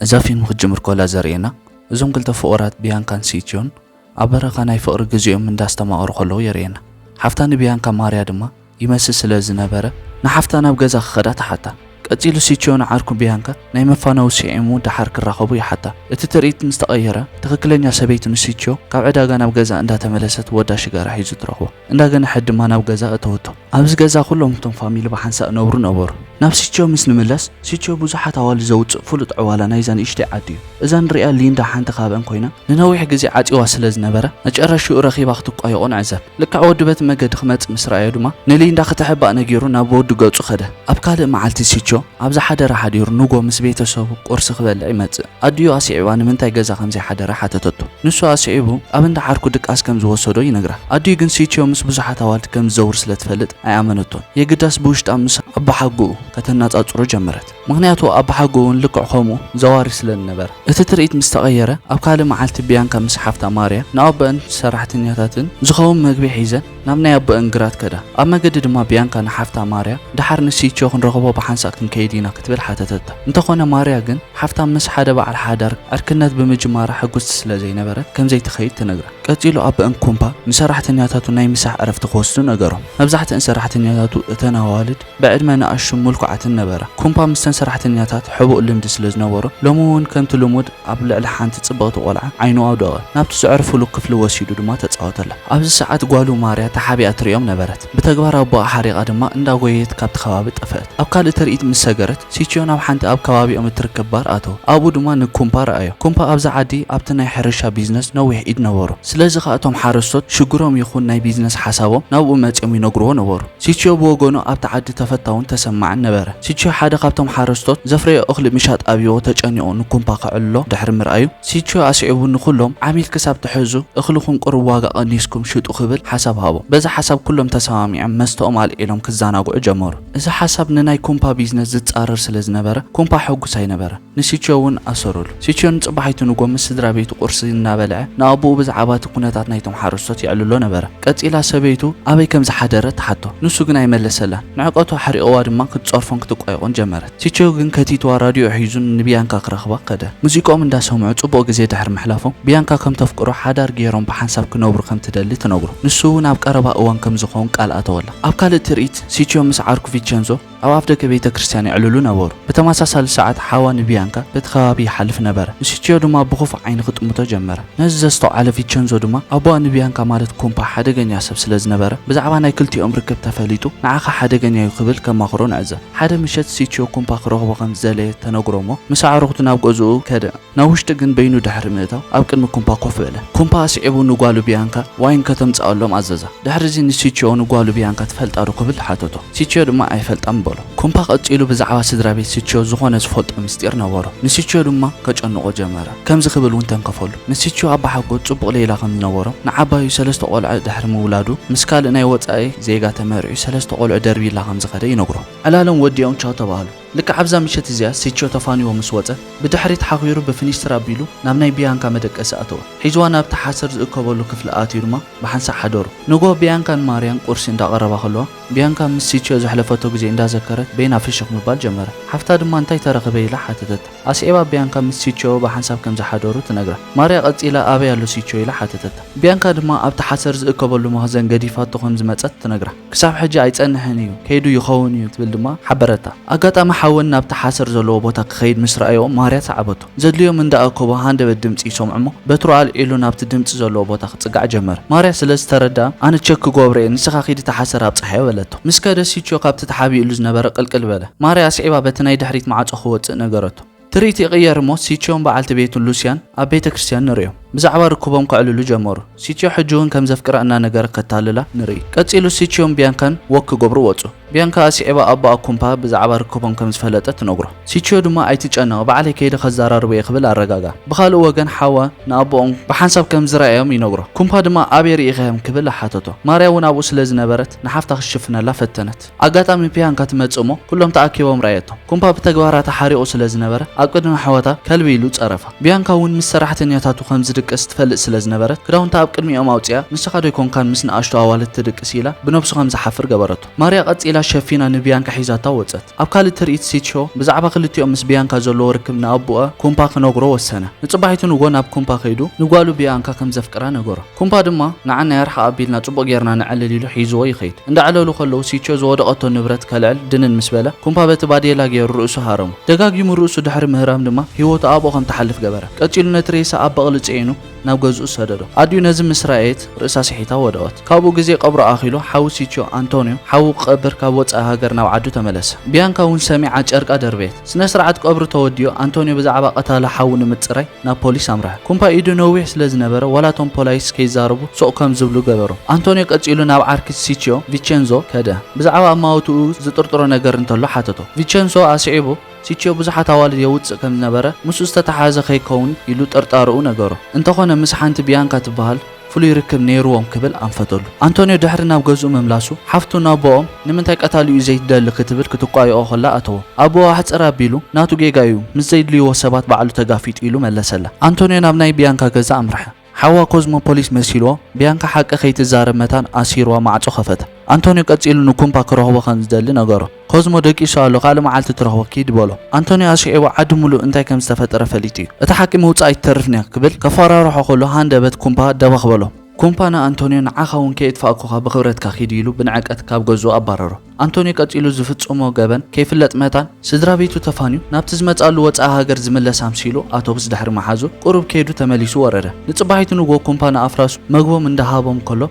እዛ ፊልም ክትጅምር ከላ ዘርእየና እዞም ክልተ ፍቑራት ቢያንካን ሲትዮን ኣብ በረኻ ናይ ፍቕሪ ግዜኦም እንዳስተማቐሩ ከለዉ የርእየና። ሓፍታ ንቢያንካ ማርያ ድማ ይመስል ስለ ዝነበረ ንሓፍታ ናብ ገዛ ክኸዳ ትሓታ። ቀጺሉ ሲትዮ ንዓርኩ ቢያንካ ናይ መፋነዊ ስዒሙ ደሓር ክራኸቡ ይሓታ። እቲ ትርኢት ምስ ተቐየረ ትኽክለኛ ሰበይቱ ንሲትዮ ካብ ዕዳጋ ናብ ገዝኣ እንዳተመለሰት ወዳ ሽጋራ ሒዙ ትረኽቦ። እንዳ ገነሐት ድማ ናብ ገዛ እተወቶ። ኣብዚ ገዛ ኩሎም እቶም ፋሚሊ ብሓንሳእ እነብሩ ነበሩ። ናብ ሲችዮ ምስ ንምለስ፣ ሲችዮ ብዙሓት ኣዋልድ ዘውጽእ ፍሉጥ ዕዋላ ናይዛ ንእሽተይ ዓዲ እዩ። እዛ ንርእያ ሊንዳ ሓንቲ ካብኣን ኮይና፣ ንነዊሕ ግዜ ዓጽዩዋ ስለ ዝነበረ፣ መጨረሽኡ ረኺባ ክትቋየቖ ንዕዘብ። ልክዕ ወዲ በቲ መገዲ ክመጽእ ምስ ረኣዮ ድማ፣ ንሊንዳ ክትሕባእ ነጊሩ ናብ ወዱ ገጹ ከደ። ኣብ ካልእ መዓልቲ ሲችዮ ኣብዛ ሓደራ ሓዲሩ ንግሆ ምስ ቤተሰቡ ቁርሲ ክበልዕ ይመጽእ። ኣዲኡ ኣስዒባ ንምንታይ ገዛ ከም ዘይሓደረ ሓተተቶ። ንሱ ኣስዒቡ ኣብ እንዳ ዓርኩ ድቃስ ከም ዝወሰዶ ይነግራ። ኣዲኡ ግን ሲቺዮ ምስ ብዙሓት ኣዋልድ ከም ዝዘውር ስለ ትፈልጥ ኣይኣመነቶን። የግዳስ ብውሽጣ ምስ ኣባሓጎኡ ከተናጻጽሮ ጀመረት። ምኽንያቱ ኣባሓጎኡ እውን ልክዕ ከምኡ ዘዋሪ ስለ ዝነበረ። እቲ ትርኢት ምስ ተቐየረ ኣብ ካልእ መዓልቲ ቢያንካ ምስ ሓፍታ ማርያ ንኣቦኣን ሰራሕተኛታትን ዝኸውን መግቢ ሒዘን፣ ናብ ናይ ኣቦኤን ግራት ከዳ። ኣብ መገዲ ድማ ብያንካ ንሓፍታ ማርያ፣ ደሓር ንሲቾ ክንረኽቦ ብሓንሳእ ክንከይድ ኢና ክትብል ሓተተታ። እንተኾነ ማርያ ግን፣ ሓፍታ ምስ ሓደ በዓል ሓዳር ዕርክነት ብምጅማራ ሕጉስቲ ስለ ዘይነበረት ከምዘይትኸይድ ትነግራ። ቀጺሉ ኣቦኤን ኩምፓ ንሰራሕተኛታቱ ናይ ምሳሕ ዕረፍቲ ክወስዱ ነገሮም። መብዛሕትኤን ሰራሕተኛታቱ እተን ኣዋልድ፣ ብዕድመ ንኣሽቱን ምልኩዓትን ነበራ። ኩምፓ ምስተን ሰራሕተኛታት ሕቡእ ልምዲ ስለ ዝነበሮ፣ ሎሚ'ውን ከምቲ ልሙድ ኣብ ልዕሊ ሓንቲ ጽብቕቲ ቈልዓ ዓይኑ ኣውደቐ። ናብቲ ዘዕርፉሉ ክፍሊ ወሲዱ ድማ ተጻወተላ። ኣብዚ ሰዓት ጓሉ ማርያ ተሓቢኣ ትርእዮም ነበረት። ብተግባር ኣቦኣ ሓሪቓ ድማ እንዳጐየየት ካብቲ ከባቢ ጠፍአት። ኣብ ካልእ ትርኢት ምስ ሰገረት፣ ሲችዮ ናብ ሓንቲ ኣብ ከባቢኦም እትርከብ ባር ኣተወ። ኣብኡ ድማ ንኩምፓ ረኣዮ። ኩምፓ ኣብዛ ዓዲ ኣብቲ ናይ ሕርሻ ቢዝነስ ነዊሕ ኢድ ነበሮ። ስለዚ ኸኣ እቶም ሓረስቶት ሽግሮም ይኹን ናይ ቢዝነስ ሓሳቦም ናብኡ መጺኦም ይነግርዎ ነበሩ። ሲችዮ ብወገኑ ኣብቲ ዓዲ ተፈታውን ተሰማዕን ነበረ። ሲችዮ ሓደ ካብቶም ሓረስቶት ዘፍረዮ እኽሊ ምሻጥ ኣብዩዎ ተጨኒቑ ንኩምፓ ከዕልሎ ድሕሪ ምርኣዩ፣ ሲችዮ ኣስዒቡ ንኹሎም ዓሚል ክሳብ ትሕዙ እኽልኹም ቁሩብ ዋጋ ቀኒስኩም ሽጡ ክብል ሓሳብ ሃቦም። በዚ ሓሳብ ኩሎም ተሰማሚዖም መስተኦም ኣልዒሎም ክዘናግዑ ጀመሩ። እዚ ሓሳብ ንናይ ኩምፓ ቢዝነስ ዝጻረር ስለ ዝነበረ ኩምፓ ሕጉስ ኣይነበረን። ንሲቾ እውን ኣሰሩሉ። ሲቾ ንጽባሒቱ ንግሆ ምስ ስድራ ቤቱ ቁርሲ እናበልዐ ንኣቦኡ ብዛዕባ እቲ ኩነታት ናይቶም ሓረስቶት የዕልሎ ነበረ። ቀጺላ ሰበይቱ ኣበይ ከም ዝሓደረ ትሓቶ። ንሱ ግን ኣይመለሰላን። ንዕቀቱ ኣሕሪቕዋ ድማ ክትጸርፎን ክትቋየቖን ጀመረት። ሲቾ ግን ከቲትዋ ራድዮ ሒዙ ንብያንካ ክረኽባ ከደ። ሙዚቅኦም እንዳሰምዑ ጽቡቕ ግዜ ድሕሪ ምሕላፎም ብያንካ ከም ተፍቅሮ ሓዳር ገይሮም ብሓንሳብ ክነብሩ ከም ትደሊ ትነግሮ። ንሱ እውን ኣብ ቀረባ እዋን ከም ዝኸውን ቃል ኣተወላ። ኣብ ካልእ ትርኢት ሲቾ ምስ ዓርኩ ቪቸንዞ፣ ኣብ ኣፍደገ ቤተ ክርስቲያን የዕልሉ ነበሩ። ብተመሳሳሊ ሰዓት ሓዋ ንቢያንካ በቲ ከባቢ ይሓልፍ ነበረ። ንሲቺዮ ድማ ብኽፉእ ዓይኒ ክጥምቶ ጀመረ። ነዚ ዘስተውዓለ ቪቸንዞ ድማ ኣቦኣ ንቢያንካ ማለት ኩምፓ ሓደገኛ ሰብ ስለ ዝነበረ ብዛዕባ ናይ ክልቲኦም ርክብ ተፈሊጡ ንዓኻ ሓደገኛ እዩ ክብል ከማኽሮ ንዕዘብ። ሓደ ምሸት ሲቺዮ ኩምፓ ክረኽቦ ከም ዝደለየ ተነግሮ እሞ ምስ ኣዕሩኽቱ ናብ ገዝኡ ከደ። ናብ ውሽጢ ግን በይኑ ድሕሪ ምእታው ኣብ ቅድሚ ኩምፓ ኮፍ በለ። ኩምፓ ኣስዒቡ ንጓሉ ብያንካ ዋይን ከተምጽኣሎም ኣዘዛ። ድሕሪዚ ንሲቺዮ ንጓሉ ብያንካ ትፈልጣዶ ክብል ሓተቶ። ሲቺዮ ድማ ኣይፈልጣን በሎ። ኩምፓ ቀጺሉ ብዛዕባ ስድራ ቤት ሲቺዮ ዝኾነ ዝፈልጦ ምስጢር ነበሮ። ንሲቺዮ ድማ ከጨንቖ ጀመረ። ከምዚ ክብል እውን ተንከፈሉ። ንሲቺዮ ኣባሓጎ ጽቡቕ ሌላ ከም ዝነበሮም፣ ንዓባዩ ሰለስተ ቆልዐ ድሕሪ ምውላዱ ምስ ካልእ ናይ ወጻኢ ዜጋ ተመርዕዩ ሰለስተ ቆልዑ ደርብይላ ከም ዝኸደ ይነግሮ። ዕላሎም ወዲኦም ቻው ተባህሉ። ልክዕ ኣብዛ ምሸት እዚኣ ሲቾ ተፋንዎ ምስ ወጸ፣ ብድሕሪት ሓኺሩ ብፍኒስትራ ኣቢሉ ናብ ናይ ብያንካ መደቀሲ ኣተወ። ሒዝዋ ናብቲ ሓሰር ዝእከበሉ ክፍሊ ኣትዩ ድማ ብሓንሳእ ሓደሩ። ንግሆ ብያንካን ማርያን ቁርሲ እንዳቐረባ ከለዋ፣ ብያንካ ምስ ሲቾ ዘሕለፈቶ ግዜ እንዳዘከረት በይና ፍሽኽ ምባል ጀመረ። ሓፍታ ድማ እንታይ ተረኽበ ኢላ ሓተተታ። ኣስዒባ ብያንካ ምስ ሲቾ ብሓንሳብ ከም ዝሓደሩ ትነግራ። ማርያ ቀጺላ ኣበይ ኣሎ ሲቾ ኢላ ሓተተታ። ብያንካ ድማ ኣብቲ ሓሰር ዝእከበሉ መኽዘን ገዲፋቶ ከም ዝመጸት ትነግራ። ክሳብ ሕጂ ኣይጸንሕን እዩ፣ ከይዱ ይኸውን እዩ ክትብል ድማ ሓበረታ። ኣጋጣሚ ሓወን ናብቲ ሓሰር ዘለዎ ቦታ ክኸይድ ምስ ረኣዮ ማርያ ሰዓበቶ። ዘድልዮም እንዳ ኣከቦ ሃንደበት ድምጺ ይሰምዑ'ሞ በትሩ ኣልዒሉ ናብቲ ድምጺ ዘለዎ ቦታ ክጽጋዕ ጀመረ። ማርያ ስለ ዝተረድኣ ኣነ ቸክ ክጎብሮ እየ ንስኻ ኪድ እቲ ሓሰር ኣብጽሓዮ በለቶ። ምስ ከደ ሲቾ ካብቲ ተሓቢእሉ ዝነበረ ቅልቅል በለ። ማርያ ኣስዒባ በቲ ናይ ድሕሪት ማዕጾ ክወጽእ ነገረቶ። ትርኢት ይቕየር እሞ ሲትዮን በዓልቲ ቤቱን ሉስያን ኣብ ቤተ ክርስትያን ንርእዮም። ብዛዕባ ርክቦም ከዕልሉ ጀመሩ። ሲትዮ ሕጂውን ከም ዘፍቅራ እናነገረ ከታልላ ንርኢ። ቀጺሉ ሲትዮን ቢያንካን ወክ ክገብሩ ወጹ። ቢያንካ ኣስዒባ ኣቦኣ ኩምፓ ብዛዕባ ርክቦም ከም ዝፈለጠ ትነግሮ። ሲትዮ ድማ ኣይትጨነቕ ባዕለይ ከይደ ከዛራርቦ እየ ክብል ኣረጋግኣ። ብኻልእ ወገን ሓዋ ንኣቦኦም ብሓንሳብ ከም ዝረኣዮም ይነግሮ። ኩምፓ ድማ ኣበይ ርኢኻዮም ክብል ሓተቶ። ማርያውን ኣብኡ ስለ ዝነበረት ንሓፍታ ክትሽፍነላ ፈተነት። ኣጋጣሚ ፒያንካ ትመጽእ እሞ ኩሎም ተኣኪቦም ረኣየቶም። ኩምፓ ብተግባራታ ሓሪቑ ስለ ዝነበረ ኣብ ቅድሚ ኣሕዋታ ከልቢ ኢሉ ጸረፋ። ቢያንካ ውን ምስ ሰራሕተኛታቱ ከም ዝድቅስ ትፈልጥ ስለ ዝነበረት ክዳውንታ ኣብ ቅድሚኦም ኣውጺኣ ንስኻ ዶ ኣይኮንካን ምስ ንኣሽቱ ኣዋልድ ትድቅስ ኢላ ብነብሱ ከም ዝሓፍር ገበረቶ። ማርያ ቀጺላ ሸፊና ንቢያንካ ሒዛታ ወጸት። ኣብ ካልእ ትርኢት ሲትሾ ብዛዕባ ክልቲኦም ምስ ቢያንካ ዘለዎ ርክብ ንኣቡኣ ኩምፓ ክነግሮ ወሰነ። ንጽባሒቱ ንግሆ ናብ ኩምፓ ከይዱ ንጓሉ ቢያንካ ከም ዘፍቅራ ነገሮ። ኩምፓ ድማ ንዓና ያርሓ ኣቢልና ጽቡቕ ጌርና ነዕልል ኢሉ ሒዝዎ ይኸይድ። እንዳዕለሉ ከለዉ ሲቾ ዝወደቐቶ ንብረት ከልዕል ድንን ምስ በለ ኩምፓ በቲ ባዴላ ጌሩ ርእሱ ሃረሞ። ደጋጊሙ ርእሱ ድሕሪ ምህራም ድማ ህይወቱ ኣብኡ ከም ትሓልፍ ገበረ። ቀጺሉ ነቲ ሬሳ ኣብ በቕሊ ጽዒኑ ናብ ገዝኡ ሰደዶ። ኣዲኡ ነዚ ምስ ረኣየት ርእሳ ስሒታ ወደቐት። ካብኡ ግዜ ቀብሩ ኣኺሉ ሓው ሲቾ፣ ኣንቶንዮ፣ ሓዉ ክቐብር ካብ ወጻኢ ሃገር ናብ ዓዱ ተመለሰ። ብያንካ እውን ሰሚዓ ጨርቃ ደርበየት። ስነ-ስርዓት ቀብሩ ተወዲኡ ኣንቶንዮ ብዛዕባ ቀታሊ ሓዉ ንምጽራይ፣ ናብ ፖሊስ ኣምርሐ። ኩምፓ ኢዱ ነዊሕ ስለ ዝነበረ ዋላ እቶም ፖላይስ ከይዛረቡ ሱቕ ከም ዝብሉ ገበሮም። ኣንቶንዮ ቀጺሉ ናብ ዓርኪ ሲችዮ፣ ቪቸንዞ፣ ከደ። ብዛዕባ ኣማውትኡ ዝጥርጥሮ ነገር እንተሎ ሓተቶ። ቪቸንሶ ኣስዒቡ ሲችዮ ብዙሓት ኣዋልድ የውጽእ ከም ዝነበረ ምስኡ ዝተተሓሓዘ ከይከውን ኢሉ ጥርጣረኡ ነገሮ። እንተኾነ ምስ ሓንቲ ቢያንካ ትበሃል፣ ፍሉይ ርክብ ነይሩዎም ክብል ኣንፈተሉ። ኣንቶንዮ ድሕሪ ናብ ገዝኡ ምምላሱ፣ ሓፍቱ ንኣቦኦም ንምንታይ ቀታሊኡ ዘይትደሊ ክትብል ክትቋየኦ ከላ ኣተዎ። ኣቦኡ ኣሕጽር ኣቢሉ፣ ናቱ ጌጋ'ዩ፣ ምስ ዘይድልዩዎ ሰባት ባዕሉ ተጋፊጡ ኢሉ መለሰላ። ኣንቶንዮ ናብ ናይ ብያንካ ገዛ ኣምርሐ። ሓዋ ኮዝሞ ፖሊስ መሲሉዎ፣ ብያንካ ሓቂ ከይትዛረብ መታን ኣሲሩዋ ማዕጾ ከፈተ። ኣንቶንዮ ቀጺሉ ንኩምፓ ክረኽቦ ከም ዝደሊ ነገሮ። ኮዝሞ ደቂሱ ኣሎ ካልእ መዓልቲ ትረኽቦ ኪድ በሎ። ኣንቶንዮ ኣስሒቑ ዓዲ ምሉእ እንታይ ከም ዝተፈጠረ ፈሊጡ'ዩ። እታ ሓቂ ምውጻኣ ኣይትተርፍን'ያ ክብል ከፈራርሖ ከሎ ሃንደበት ኩምፓ ደበኽ በሎ። ኩምፓ ንኣንቶንዮ ንዓኻ እውን ከየጥፋእኩኻ ብኽብረትካ ኪድ ኢሉ ብንዕቀት ካብ ገዝኡ ኣባረሮ። ኣንቶንዮ ቀጺሉ ዝፍጽሞ ገበን ከይፍለጥ መታን ስድራቤቱ ተፋንዩ ናብቲ ዝመጽኣሉ ወጻኢ ሃገር ዝምለስ ኣምሲሉ ኣቶብስ ድሕሪ ምሓዙ ቁሩብ ከይዱ ተመሊሱ ወረደ። ንጽባሒቱ ንግሆ ኩምፓ ንኣፍራሱ መግቦም እንዳሃቦም ከሎ፣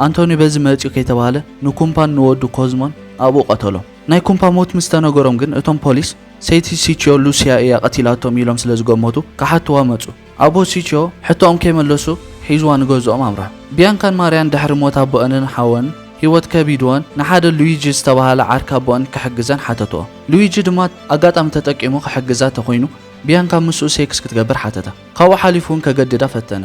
ኣንቶኒ በዚ መጽዩ ከይተባህለ ንኩምፓን ንወዱ ኮዝሞን ኣብኡ ቀተሎም። ናይ ኩምፓ ሞት ምስ ተነገሮም ግን እቶም ፖሊስ ሰይቲ ሲችዮ ሉሲያ እያ ቀቲላቶም ኢሎም ስለ ዝገመቱ ክሓትዋ መጹ። ኣቦ ሲችዮ ሕቶኦም ከይመለሱ ሒዝዋ ንገዝኦም ኣምርሑ። ቢያንካን ማርያን ድሕሪ ሞት ኣቦኣንን ሓወንን ህይወት ከቢድወን ንሓደ ሉዊጂ ዝተባህለ ዓርኪ ኣቦኣን ክሕግዘን ሓተትኦ። ሉዊጂ ድማ ኣጋጣሚ ተጠቂሙ ክሕግዛ ተኾይኑ ቢያንካ ምስኡ ሴክስ ክትገብር ሓተታ። ካብኡ ሓሊፉ እውን ከገድዳ ፈተነ።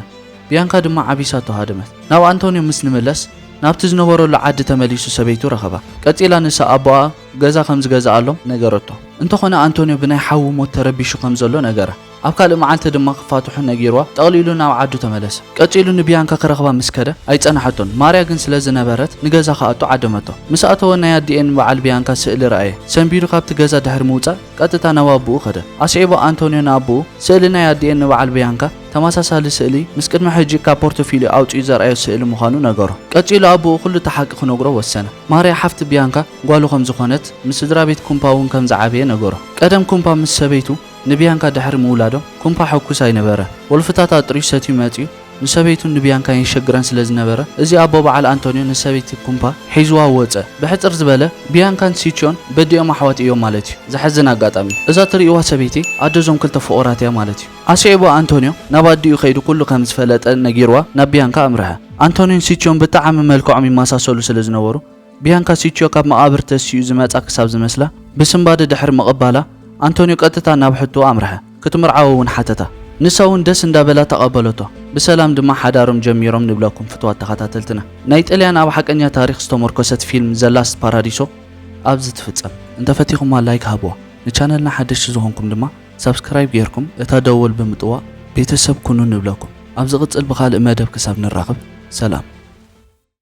ብያንካ ድማ ዓቢሳቶ ሃደመት። ናብ ኣንቶንዮ ምስ ንመለስ ናብቲ ዝነበረሉ ዓዲ ተመሊሱ ሰበይቱ ረኸባ። ቀጺላ ንሳ ኣቦኣ ገዛ ከም ዝገዝኣሎም ነገረቶ። እንተኾነ ኣንቶንዮ ብናይ ሓዉ ሞት ተረቢሹ ከም ዘሎ ነገራ። ኣብ ካልእ መዓልቲ ድማ ክፋትሑ ነጊርዋ ጠቕሊሉ ናብ ዓዱ ተመለሰ። ቀጺሉ ንብያንካ ክረኽባ ምስ ከደ ኣይጸናሓቶን። ማርያ ግን ስለ ዝነበረት ንገዛ ክኣቱ ዓደመቶ። ምስ ኣተወ ናይ ኣዲኤን በዓል ብያንካ ስእሊ ረኣየ። ሰንቢዱ ካብቲ ገዛ ድሕሪ ምውጻእ፣ ቀጥታ ናብ ኣቡኡ ከደ። ኣስዒቡ ኣንቶንዮ ንኣቡኡ፣ ስእሊ ናይ ኣዲኤን ንበዓል ብያንካ ተመሳሳሊ ስእሊ ምስ ቅድሚ ሕጂ ካብ ፖርቶፊልዮ ኣውጺኡ ዘርኣዮ ስእሊ ምዃኑ ነገሮ። ቀጺሉ ኣቡኡ ኩሉ እቲ ሓቂ ክነግሮ ወሰነ። ማርያ ሓፍቲ ብያንካ ጓሉ ከም ዝኾነት፣ ምስ ስድራቤት ኩምፓ እውን ከም ዝዓበየ ነገሮ። ቀደም ኩምፓ ምስ ሰበይቱ ንብያንካ ድሕሪ ምውላዶም ኩምፓ ሕኩስ ኣይነበረን። ወልፍታት ኣጥርዩ ሰትዩ መጺኡ ንሰበይቱን ንብያንካን የሸግረን ስለ ዝነበረ፣ እዚ ኣቦ በዓል ኣንቶንዮ ንሰበይቲ ኩምፓ ሒዙዋ ወጸ። ብሕጽር ዝበለ፣ ብያንካን ሲችዮን በዲኦም ኣሕዋት እዮም ማለት እዩ። ዘሕዝን ኣጋጣሚ። እዛ ትርእይዋ ሰበይቲ ኣደ እዞም ክልተ ፍቑራት እያ ማለት እዩ። ኣስዒቡ ኣንቶንዮ ናብ ኣዲኡ ከይዱ ኩሉ ከም ዝፈለጠ ነጊሩዋ ናብ ብያንካ ኣምርሐ። ኣንቶንዮን ሲችዮን ብጠዓሚ መልክዖም ይመሳሰሉ ስለ ዝነበሩ፣ ብያንካ ሲችዮ ካብ መቓብር ተሲኡ ዝመጻ ክሳብ ዝመስላ ብስንባደ ድሕሪ ምቕባላ፣ ኣንቶንዮ ቀጥታ ናብ ሕቶኡ ኣምርሐ። ክትምርዓዎ እውን ሓተታ። ንሳ እውን ደስ እንዳበላ ተቐበለቶ። ብሰላም ድማ ሓዳሮም ጀሚሮም ንብለኩም ፍቱዋት ተኸታተልትና። ናይ ጥልያን ኣብ ሓቀኛ ታሪኽ ዝተሞርኮሰት ፊልም ዘ ላስት ፓራዲሶ ኣብዚ ትፍጸም። እንተፈቲኹማ ላይክ ሃብዋ። ንቻነልና ሓደሽቲ ዝኾንኩም ድማ ሳብስክራይብ ጌርኩም እታ ደወል ብምጥዋቕ ቤተሰብ ኩኑ ንብለኩም። ኣብ ዝቕጽል ብኻልእ መደብ ክሳብ ንራኸብ ሰላም።